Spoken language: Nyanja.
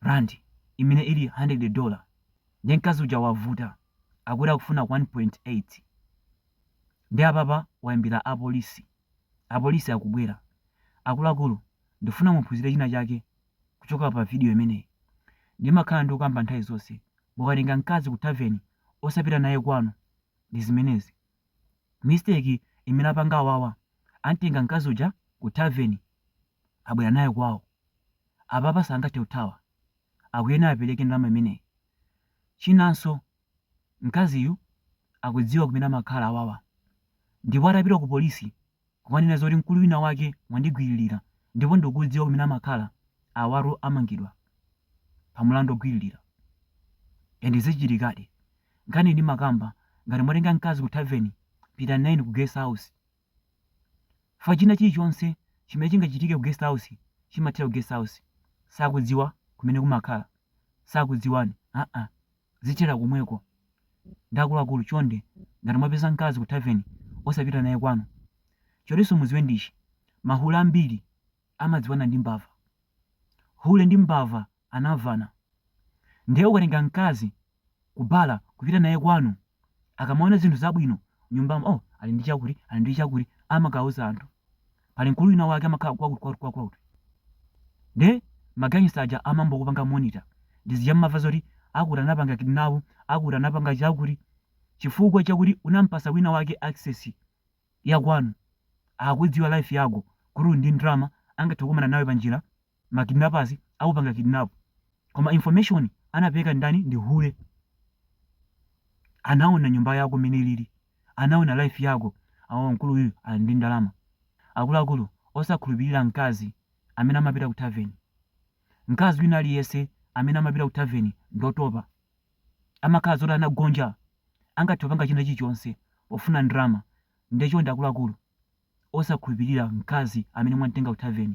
Randi imene ili handiredi dola. Ndiye mkazi uja wavuta, akuti akufuna 1.8. Ndiye apapa waimbira apolisi. Apolisi akubwera. Akuluakulu, ndikufuna muphunzire china chake kuchokera pa vidiyo imeneyi. Ndimakhala ndikukamba nthawi zonse, mukatenga mkazi ku thaveni osapita naye kwanu. Ndi zimenezi. Mistake imene apanga awawa, amtenga mkazi uja ku thaveni, abwera naye kwawo. Apapa sangathe kuthawa, akuyenera apereke ndalama imeneyi. Chinanso mkaziyu akudziwa kumene amakhala awawa ndipo atapita ku polisi kukanena zoti mkulu wina wake wandigwililira ndipo ndikudziwa kumene amakhala, awatu amangidwa pa mulandu ogwililira ende zichitikadi. Nkhaniyi ndimakamba ngati mwatenga mkazi ku thaveni, pitani nayeni ku guest house. fa china chilichonse chimene chingachitike ku guest house chimathera ku guest house sakudziwa kumene mumakhala sakudziwani aa zithera komweko nde akuluakulu chonde ngati mwapeza mkazi ku tavern osapita naye kwanu chinanso mudziwe ndichi mahule ambiri amadziwana ndi mbava hule ndi mbava anamvana nde ukatenga mkazi ku bar kupita naye kwanu akamaona zinthu zabwino nyumbamo oh ali ndi chakuti ali ndi chakuti amakauza anthu pali mkulu wina wake amakhala kwakuti kwakuti kwakuti nde magangsta aja amayamba kupanga monitor ndi zija mmamva zoti akuti anapanga kidnap akuti anapanga chakuti chifukwa chakuti unampasa wina wake access ya kwanu akudziwa life yako kuti uli ndi ndalama angathe kukumana nawe panjira ma kidnappers akupanga kidnap koma information anapeleka ndani ndi hule anaona nyumba yako mene ilili anaona life yako awo mkulu uyu ali ndi ndalama akuluakulu osakhulupirira mkazi amene amapita ku tavern mkazi wina aliyense amene amapita ku tavern ndotopa amakhala zoti anagonja angathe kupanga china chilichonse pofuna ndalama nde chonde akuluakulu osakhulupirira mkazi amene mwamtenga ku tavern